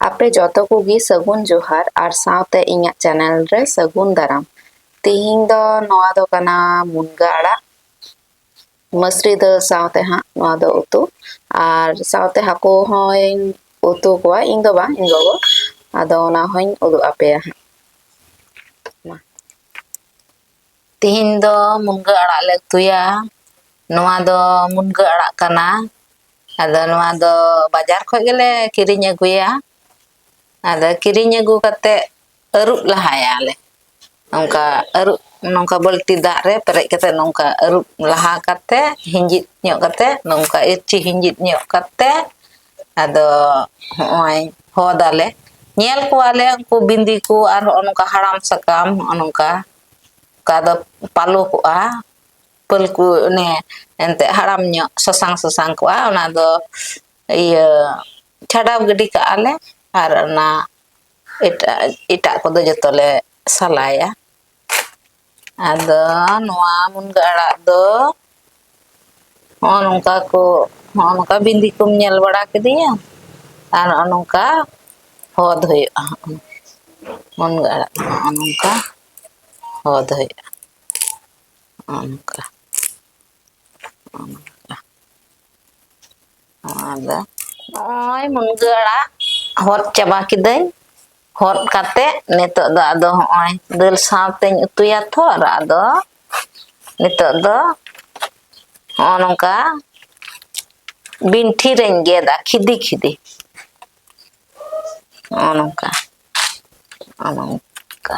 ᱟᱯᱮ ᱡᱚᱛᱚ ᱠᱚᱜᱮ ᱥᱟᱹᱜᱩᱱ ᱡᱚᱦᱟᱨ ᱟᱨ ᱥᱟᱶᱛᱮ ᱤᱧᱟᱹᱜ ᱪᱮᱱᱮᱞ ᱨᱮ ᱥᱟᱹᱜᱩᱱ ᱫᱟᱨᱟᱢ ᱛᱤᱦᱤᱧ ᱫᱚ ᱱᱚᱣᱟ ᱫᱚ ᱠᱟᱱᱟ ᱢᱩᱱᱜᱟᱹ ᱟᱲᱟᱜ ᱢᱟᱹᱥᱨᱤ ᱫᱟᱹᱞ ᱥᱟᱶᱛᱮ ᱦᱟᱸᱜ ᱱᱚᱣᱟ ᱫᱚ ᱩᱛᱩ ᱟᱨ ᱥᱟᱶᱛᱮ ᱦᱟᱹᱠᱩ ᱦᱚᱸᱧ ᱩᱛᱩ ᱠᱚᱣᱟ ᱤᱧ ᱫᱚ ᱵᱟᱝ ᱤᱧ ᱜᱚᱜᱚ ᱟᱫᱚ ᱚᱱᱟ ᱦᱚᱸᱧ ᱩᱫᱩᱜ ᱟᱯᱮᱭᱟ ᱦᱟᱸᱜ ᱛᱮᱦᱮᱧ ᱫᱚ ᱢᱩᱱᱜᱟᱹ ᱟᱲᱟᱜ ᱞᱮ ᱩᱛᱩᱭᱟ ᱱᱚᱣᱟ ᱫᱚ ᱢᱩᱱᱜᱟᱹ ᱟᱲᱟᱜ ᱠᱟᱱᱟ ᱟᱫᱚ ᱱᱚᱣᱟ ᱫᱚ ᱵᱟᱡᱟᱨ ᱠᱷᱚᱱ ᱜᱮᱞᱮ ᱠᱤᱨᱤᱧ ᱟᱹᱜᱩᱭᱟ ᱟᱫᱚ ᱠᱤᱨᱤᱧ ᱟᱹᱜᱩ ᱠᱟᱛᱮᱫ ᱟᱹᱨᱩᱵ ᱞᱟᱦᱟᱭᱟᱞᱮ ᱱᱚᱝᱠᱟ ᱟᱹᱨᱩᱵ ᱱᱚᱝᱠᱟ ᱵᱟᱹᱞᱛᱤ ᱫᱟᱜ ᱨᱮ ᱯᱮᱨᱮᱡ ᱠᱟᱛᱮᱫ ᱱᱚᱝᱠᱟ ᱟᱹᱨᱩᱵ ᱞᱟᱦᱟ ᱠᱟᱛᱮᱫ ᱦᱤᱸᱡᱤᱫ ᱧᱚᱜ ᱠᱟᱛᱮᱫ ᱱᱚᱝᱠᱟ ᱤᱨᱪᱤ ᱦᱤᱸᱡᱤᱫ ᱧᱚᱜ ᱠᱟᱛᱮᱫ ᱟᱫᱚ ᱦᱚᱸᱜᱼᱚᱭ ᱦᱚᱫᱟᱞᱮ ᱧᱮᱞ ᱠᱚᱣᱟᱞᱮ ᱩᱱᱠᱩ ᱵᱤᱸᱫᱤ ᱠᱚ ᱟᱨ ᱦᱚᱸᱜᱼᱚ ᱱᱚᱝᱠᱟ ᱦᱟᱲᱟᱢ ᱥᱟᱠᱟᱢ ᱦᱚᱸᱜᱼᱚ ᱱᱚᱝᱠᱟ ᱚᱠᱟ ᱫᱚ ᱯᱟᱞᱚ ᱠᱚᱜᱼᱟ ᱯᱟᱹᱞ ᱠᱚ ᱚᱱᱮ ᱮᱱᱛᱮᱫ ᱦᱟᱲᱟᱢ ᱧᱚᱜ ᱥᱟᱥᱟᱝ ᱥᱟᱥᱟᱝ ᱠᱚᱜᱼᱟ ᱚᱱᱟ ᱫᱚ ᱤᱭᱟᱹ ᱪᱷᱟᱰᱟᱣ ᱜᱤᱰᱤ ᱠᱟᱜᱼᱟ ᱞᱮ ᱟᱨ ᱚᱱᱟ ᱮᱴᱟᱜ ᱮᱴᱟᱜ ᱠᱚᱫᱚ ᱡᱚᱛᱚ ᱞᱮ ᱥᱟᱞᱟᱭᱟ ᱟᱫᱚ ᱱᱚᱣᱟ ᱢᱩᱱᱜᱟᱹ ᱟᱲᱟᱜ ᱫᱚ ᱦᱚᱸᱜᱼᱚ ᱱᱚᱝᱠᱟ ᱠᱚ ᱦᱚᱸᱜᱼᱚ ᱱᱚᱝᱠᱟ ᱵᱤᱸᱫᱤ ᱠᱚᱢ ᱧᱮᱞ ᱵᱟᱲᱟ ᱠᱤᱫᱤᱧᱟ ᱟᱨ ᱱᱚᱜᱼᱚ ᱱᱚᱝᱠᱟ ᱦᱚᱫ ᱦᱩᱭᱩᱜᱼᱟ ᱢᱩᱱᱜᱟᱹ ᱟᱲᱟᱜ ᱫᱚ ᱱᱚᱜᱼᱚ ᱱᱚᱝᱠᱟ ᱦᱚᱫ ᱦᱩᱭᱩᱜᱼᱟ ᱚᱱᱠᱟ ᱱᱚᱣᱟ ᱫᱚ ᱱᱚᱜᱼᱚᱭ ᱢᱩᱱᱜᱟᱹ ᱟᱲᱟᱜ ᱦᱚᱫ ᱪᱟᱵᱟ ᱠᱤᱫᱟᱹᱧ ᱦᱚᱫ ᱠᱟᱛᱮ ᱱᱤᱛᱚᱜ ᱫᱚ ᱟᱫᱚ ᱦᱚᱸᱜᱼᱚᱭ ᱫᱟᱹᱞ ᱥᱟᱶᱛᱮᱧ ᱩᱛᱩᱭᱟ ᱛᱚ ᱟᱫᱚ ᱱᱤᱛᱚᱜ ᱫᱚ ᱦᱚᱸᱜᱼᱚ ᱱᱚᱝᱠᱟ ᱵᱤᱱᱴᱷᱤ ᱨᱮᱧ ᱜᱮᱫᱟ ᱠᱷᱤᱫᱤ ᱠᱷᱤᱫᱤ ᱦᱚᱸᱜᱼᱚ ᱱᱚᱝᱠᱟ ᱦᱚᱸᱜᱼᱚ ᱱᱚᱝᱠᱟ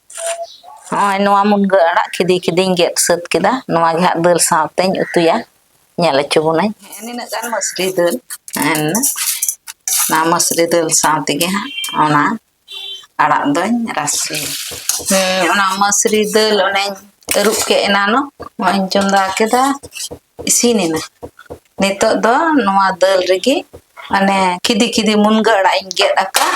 ᱱᱚᱜᱼᱚᱭ ᱱᱚᱣᱟ ᱢᱩᱱᱜᱟᱹ ᱟᱲᱟᱜ ᱠᱷᱤᱫᱤ ᱠᱷᱤᱫᱤᱧ ᱜᱮᱫ ᱥᱟᱹᱛ ᱠᱮᱫᱟ ᱱᱚᱣᱟ ᱜᱮ ᱦᱟᱸᱜ ᱫᱟᱹᱞ ᱥᱟᱶᱛᱮᱧ ᱩᱛᱩᱭᱟ ᱧᱮᱞ ᱦᱚᱪᱚ ᱵᱚᱱᱟᱹᱧ ᱱᱤᱱᱟᱹᱜ ᱜᱟᱱ ᱢᱟᱹᱥᱨᱤ ᱫᱟᱹᱞ ᱮᱱᱟ ᱚᱱᱟ ᱢᱟᱹᱥᱨᱤ ᱫᱟᱹᱞ ᱥᱟᱶ ᱛᱮᱜᱮ ᱦᱟᱸᱜ ᱚᱱᱟ ᱟᱲᱟᱜ ᱫᱚᱧ ᱨᱟᱥᱮᱭᱟ ᱦᱮᱸ ᱚᱱᱟ ᱢᱟᱹᱥᱨᱤ ᱫᱟᱹᱞ ᱚᱱᱮᱧ ᱟᱹᱨᱩᱵ ᱠᱮᱫ ᱮᱱᱟᱱᱚᱜ ᱱᱚᱜᱼᱚᱭᱤᱧ ᱪᱚᱸᱫᱟ ᱠᱮᱫᱟ ᱤᱥᱤᱱ ᱮᱱᱟ ᱱᱤᱛᱚᱜ ᱫᱚ ᱱᱚᱣᱟ ᱫᱟᱹᱞ ᱨᱮᱜᱮ ᱢᱟᱱᱮ ᱠᱷᱤᱫᱤ ᱠᱷᱤᱫᱤ ᱢᱩᱱᱜᱟᱹ ᱟᱲᱟᱜ ᱤᱧ ᱜᱮᱫ ᱟᱠᱟᱫ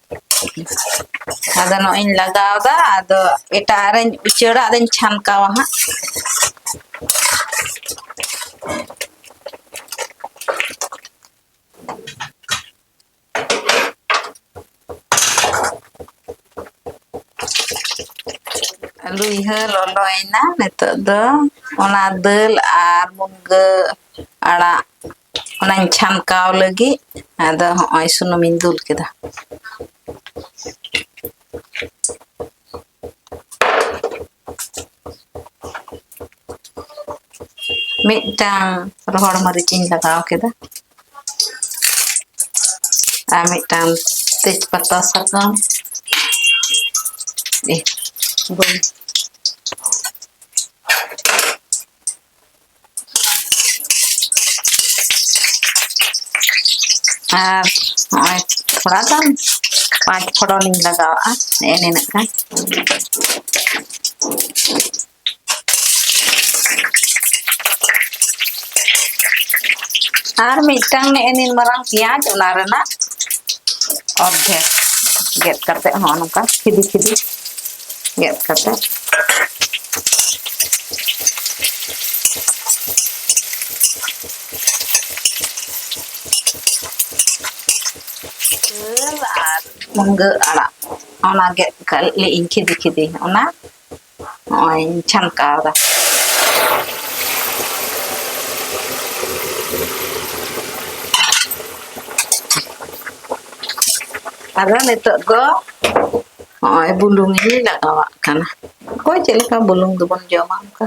ᱟᱫᱚ ᱱᱚᱜ ᱤᱧ ᱞᱟᱜᱟᱣ ᱫᱟ ᱟᱫᱚ ᱮᱴᱟᱜ ᱨᱮᱧ ᱩᱪᱟᱹᱲᱟ ᱟᱫᱚᱧ ᱪᱷᱟᱱᱠᱟᱣᱟ ᱦᱟᱸᱜ ᱞᱩᱭᱦᱟᱹ ᱞᱚᱞᱚᱭᱮᱱᱟ ᱱᱤᱛᱚᱜ ᱫᱚ ᱚᱱᱟ ᱫᱟᱹᱞ ᱟᱨ ᱢᱩᱱᱜᱟᱹ ᱟᱲᱟᱜ ᱚᱱᱟᱧ ᱪᱷᱟᱱᱠᱟᱣ ᱞᱟᱹᱜᱤᱫ ᱟᱫᱚ ᱦᱚᱸᱜᱼᱚᱭ ᱥᱩᱱᱩᱢᱤᱧ ᱫᱩᱞ ᱠᱮᱫᱟ ᱢᱤᱫᱴᱟᱝ ᱨᱚᱦᱚᱲ ᱢᱟᱹᱨᱤᱪ ᱤᱧ ᱞᱟᱜᱟᱣ ᱠᱮᱫᱟ ᱟᱨ ᱢᱤᱫᱴᱟᱝ ᱛᱮᱡᱽ ᱯᱟᱛᱟ ᱥᱟᱠᱟᱢ ᱵᱟᱹᱧ ᱟᱨ ᱱᱚᱜᱼᱚᱭ ᱛᱷᱚᱲᱟ ᱜᱟᱱ ᱯᱟᱸᱪ ᱯᱷᱚᱲᱚᱱᱤᱧ ᱞᱟᱜᱟᱣᱟᱜᱼᱟ ᱱᱮᱜᱼᱮ ᱱᱤᱱᱟᱹᱜ ᱜᱟᱱ ᱟᱨ ᱢᱤᱫᱴᱟᱝ ᱱᱮᱜᱼᱮ ᱱᱤᱱ ᱢᱟᱨᱟᱝ ᱯᱮᱸᱭᱟᱡᱽ ᱚᱱᱟ ᱨᱮᱱᱟᱜ ᱚᱨᱫᱷᱮᱠ ᱜᱮᱫ ᱠᱟᱛᱮᱫ ᱦᱚᱸ ᱱᱚᱝᱠᱟ ᱠᱷᱤᱫᱤ ᱠᱷᱤᱫᱤ ᱜᱮᱫ ᱠᱟᱛᱮ ᱟᱨ ᱢᱩᱱᱜᱟᱹ ᱟᱲᱟᱜ ᱚᱱᱟ ᱜᱮᱫ ᱠᱟᱜ ᱤᱧ ᱠᱷᱤᱫᱤ ᱠᱷᱤᱫᱤ ᱚᱱᱟ ᱱᱚᱜᱼᱚᱭ ᱪᱷᱟᱱᱠᱟᱣᱫᱟ ᱟᱫᱚ ᱱᱤᱛᱚᱜ ᱫᱚ ᱱᱚᱜᱼᱚᱭ ᱵᱩᱞᱩᱝ ᱤᱧ ᱞᱟᱜᱟᱣᱟᱜ ᱠᱟᱱᱟ ᱚᱠᱚᱭ ᱪᱮᱫ ᱞᱮᱠᱟ ᱵᱩᱞᱩᱝ ᱫᱚᱵᱚᱱ ᱡᱚᱢᱟ ᱚᱱᱠᱟ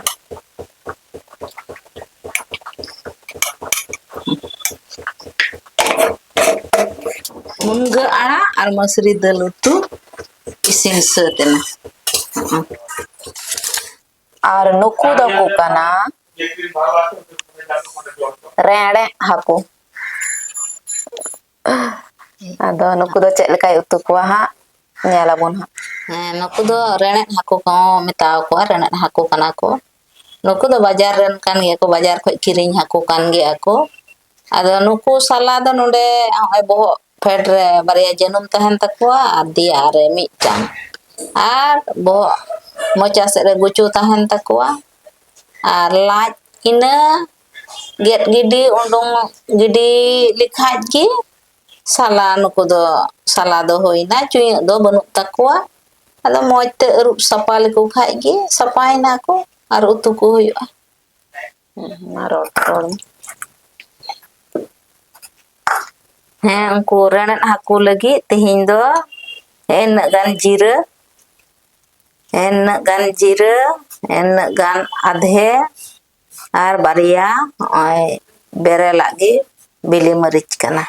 ᱢᱩᱱᱜᱟᱹ ᱟᱲᱟᱜ ᱟᱨ ᱢᱟᱹᱥᱨᱤ ᱫᱟᱹᱞ ᱩᱛᱩ ᱤᱥᱤᱱ ᱥᱟᱹᱛ ᱮᱱᱟ ᱟᱨ ᱱᱩᱠᱩ ᱫᱚᱠᱚ ᱠᱟᱱᱟ ᱨᱮᱲᱮᱫ ᱦᱟᱹᱠᱩ ᱟᱫᱚ ᱱᱩᱠᱩ ᱫᱚ ᱪᱮᱫ ᱞᱮᱠᱟᱭ ᱩᱛᱩ ᱠᱚᱣᱟ ᱦᱟᱸᱜ ᱧᱮᱞ ᱟᱵᱚᱱ ᱦᱟᱸᱜ ᱦᱮᱸ ᱱᱩᱠᱩ ᱫᱚ ᱨᱮᱲᱮᱫ ᱦᱟᱹᱠᱩ ᱠᱚᱦᱚᱸ ᱢᱮᱛᱟᱣ ᱠᱚᱣᱟ ᱨᱮᱲᱮᱫ ᱦᱟᱹᱠᱩ ᱠᱟᱱᱟ ᱠᱚ ᱱᱩᱠᱩ ᱫᱚ ᱵᱟᱡᱟᱨ ᱨᱮᱱ ᱠᱟᱱ ᱜᱮᱭᱟ ᱠᱚ ᱵᱟᱡᱟᱨ ᱠᱷᱚᱱ ᱠᱤᱨᱤᱧ ᱦᱟᱹᱠᱩ ᱠᱟᱱ ᱜᱮᱭᱟ ᱠᱚ ᱟᱫᱚ ᱱᱩᱠᱩ ᱥᱟᱞᱟ ᱫᱚ ᱱᱚᱰᱮ ᱱᱚᱜᱼᱚᱭ ᱵᱚᱦᱚᱜ ᱯᱷᱮᱰ ᱨᱮ ᱵᱟᱨᱭᱟ ᱡᱟᱹᱱᱩᱢ ᱛᱟᱦᱮᱱ ᱛᱟᱠᱚᱣᱟ ᱟᱨ ᱫᱮᱭᱟ ᱨᱮ ᱢᱤᱫᱴᱟᱝ ᱟᱨ ᱵᱚᱦᱚᱜ ᱢᱚᱪᱟ ᱥᱮᱫ ᱨᱮ ᱜᱩᱪᱩ ᱛᱟᱦᱮᱱ ᱛᱟᱠᱚᱣᱟ ᱟᱨ ᱞᱟᱡ ᱤᱱᱟᱹ ᱜᱮᱫ ᱜᱤᱰᱤ ᱩᱰᱩᱝ ᱜᱤᱰᱤ ᱞᱮᱠᱷᱟᱡ ᱜᱮ ᱥᱟᱞᱟ ᱱᱩᱠᱩ ᱫᱚ ᱥᱟᱞᱟ ᱫᱚ ᱦᱩᱭᱱᱟ ᱪᱩᱭᱟᱹᱜ ᱫᱚ ᱵᱟᱹᱱᱩᱜ ᱛᱟᱠᱚᱣᱟ ᱟᱫᱚ ᱢᱚᱡᱽ ᱛᱮ ᱟᱹᱨᱩᱵ ᱥᱟᱯᱷᱟ ᱞᱮᱠᱚ ᱠᱷᱟᱡ ᱜᱮ ᱥᱟᱯᱷᱟᱭᱮᱱᱟ ᱠᱚ ᱟᱨ ᱩᱛᱩ ᱠᱚ ᱦᱩᱭᱩᱜᱼᱟ ᱢᱟ ᱨᱚᱲ ᱨᱚᱲ ᱢᱮ ᱦᱮᱸ ᱩᱱᱠᱩ ᱨᱮᱲᱮᱫ ᱦᱟᱹᱠᱩ ᱞᱟᱹᱜᱤᱫ ᱛᱮᱦᱮᱧ ᱫᱚ ᱤᱱᱟᱹᱜ ᱜᱟᱱ ᱡᱤᱨᱟᱹ ᱤᱱᱟᱹᱜ ᱜᱟᱱ ᱡᱤᱨᱟᱹ ᱤᱱᱟᱹᱜ ᱜᱟᱱ ᱟᱫᱷᱮ ᱟᱨ ᱵᱟᱨᱭᱟ ᱱᱚᱜᱼᱚᱭ ᱵᱮᱨᱮᱞᱟᱜ ᱜᱮ ᱵᱤᱞᱤ ᱢᱟᱹᱨᱤᱪ ᱠᱟᱱᱟ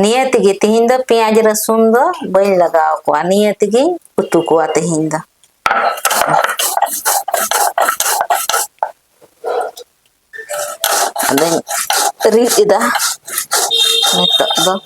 ᱱᱤᱭᱟᱹ ᱛᱮᱜᱮ ᱛᱤᱦᱤᱧ ᱫᱚ ᱯᱮᱸᱭᱟᱡᱽ ᱨᱟᱹᱥᱩᱱ ᱫᱚ ᱵᱟᱹᱧ ᱞᱟᱜᱟᱣ ᱠᱚᱣᱟ ᱱᱤᱭᱟᱹ ᱛᱮᱜᱮᱧ ᱩᱛᱩ ᱠᱚᱣᱟ ᱛᱤᱦᱤᱧ ᱫᱚ ᱟᱫᱚᱧ ᱨᱤᱫ ᱮᱫᱟ ᱱᱤᱛᱚᱜ ᱫᱚ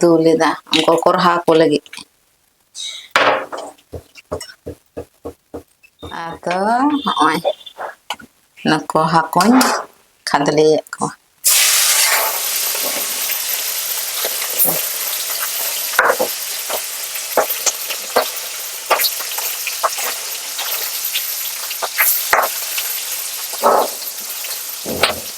ᱫᱩᱞ ᱮᱫᱟ ᱩᱱᱠᱩ ᱠᱚᱨᱦᱟ ᱠᱚ ᱞᱟᱹᱜᱤᱫ ᱟᱫᱚ ᱦᱚᱸᱜᱼᱚᱭ ᱱᱩᱠᱩ ᱦᱟᱹᱠᱩᱧ ᱠᱷᱟᱫᱽᱞᱮᱭᱮᱫ ᱠᱚᱣᱟ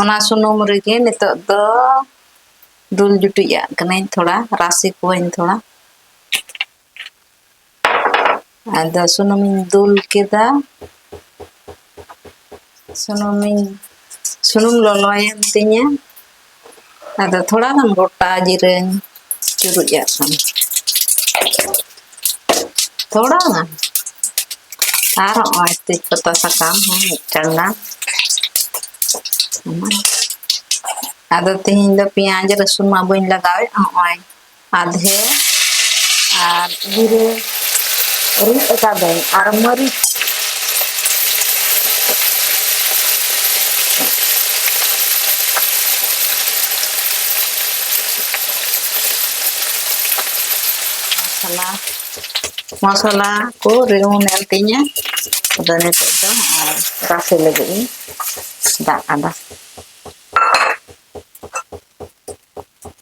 ᱚᱱᱟ ᱥᱩᱱᱩᱢ ᱨᱮᱜᱮ ᱱᱤᱛᱚᱜ ᱫᱚ ᱫᱩᱞ ᱡᱩᱴᱩᱡ ᱟᱜ ᱠᱟᱹᱱᱟᱹᱧ ᱛᱷᱚᱲᱟ ᱨᱟᱥᱮ ᱠᱚᱣᱟᱹᱧ ᱛᱷᱚᱲᱟ ᱟᱫᱚ ᱥᱩᱱᱩᱢᱤᱧ ᱫᱩᱞ ᱠᱮᱫᱟ ᱥᱩᱱᱩᱢᱤᱧ ᱥᱩᱱᱩᱢ ᱞᱚᱞᱚᱭᱮᱱ ᱛᱤᱧᱟᱹ ᱟᱫᱚ ᱛᱷᱚᱲᱟ ᱜᱟᱱ ᱜᱚᱴᱟ ᱡᱤᱨᱟᱹᱧ ᱪᱩᱨᱩᱡ ᱟᱜ ᱠᱟᱱᱟ ᱛᱷᱚᱲᱟ ᱜᱟᱱ ᱟᱨ ᱱᱚᱜᱼᱚᱭ ᱛᱮᱡᱽ ᱯᱟᱛᱟ ᱥᱟᱠᱟᱢ ᱦᱚᱸ ᱢᱤᱫᱴᱟᱝ ᱜᱟᱱ ᱟᱫᱚ ᱛᱮᱦᱮᱧ ᱫᱚ ᱯᱮᱸᱭᱟᱡᱽ ᱨᱟᱹᱥᱩᱱ ᱢᱟ ᱵᱟᱹᱧ ᱞᱟᱜᱟᱣᱮᱫ ᱱᱚᱜᱼᱚᱭ ᱟᱫᱷᱮ ᱟᱨ ᱡᱤᱨᱟᱹ ᱨᱤᱫ ᱟᱠᱟᱫᱟᱹᱧ ᱟᱨ ᱢᱟᱹᱨᱤᱪ ᱢᱚᱥᱞᱟ ᱢᱚᱥᱞᱟ ᱠᱚ ᱨᱤᱣᱩᱱ ᱮᱱ ᱛᱤᱧᱟᱹ ᱟᱫᱚ ᱱᱤᱛᱚᱜ ᱫᱚ ᱟᱨ ᱨᱟᱥᱮ ᱞᱟᱹᱜᱤᱫ ᱤᱧ ᱫᱟᱜ ᱟᱫᱟ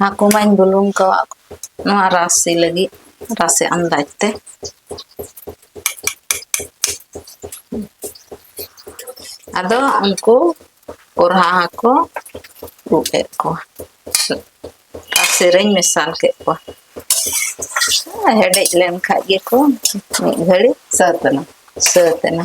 ᱦᱟᱹᱠᱩ ᱢᱟᱧ ᱵᱩᱞᱩᱝ ᱠᱟᱜ ᱱᱚᱣᱟ ᱨᱟᱥᱮ ᱞᱟᱹᱜᱤᱫ ᱨᱟᱥᱮ ᱟᱱᱫᱟᱡ ᱛᱮ ᱟᱫᱚ ᱩᱱᱠᱩ ᱠᱚᱨᱦᱟ ᱦᱟᱹᱠᱩ ᱩᱛᱩ ᱠᱮᱫ ᱠᱚᱣᱟ ᱨᱟᱥᱮ ᱨᱮᱧ ᱢᱮᱥᱟᱞ ᱠᱮᱫ ᱠᱚᱣᱟ ᱦᱮᱰᱮᱡ ᱞᱮᱱ ᱠᱷᱟᱡ ᱜᱮᱠᱚ ᱢᱤᱫ ᱜᱷᱟᱹᱲᱤᱡ ᱥᱟᱹᱛ ᱮᱱᱟ ᱥᱟᱹᱛ ᱮᱱᱟ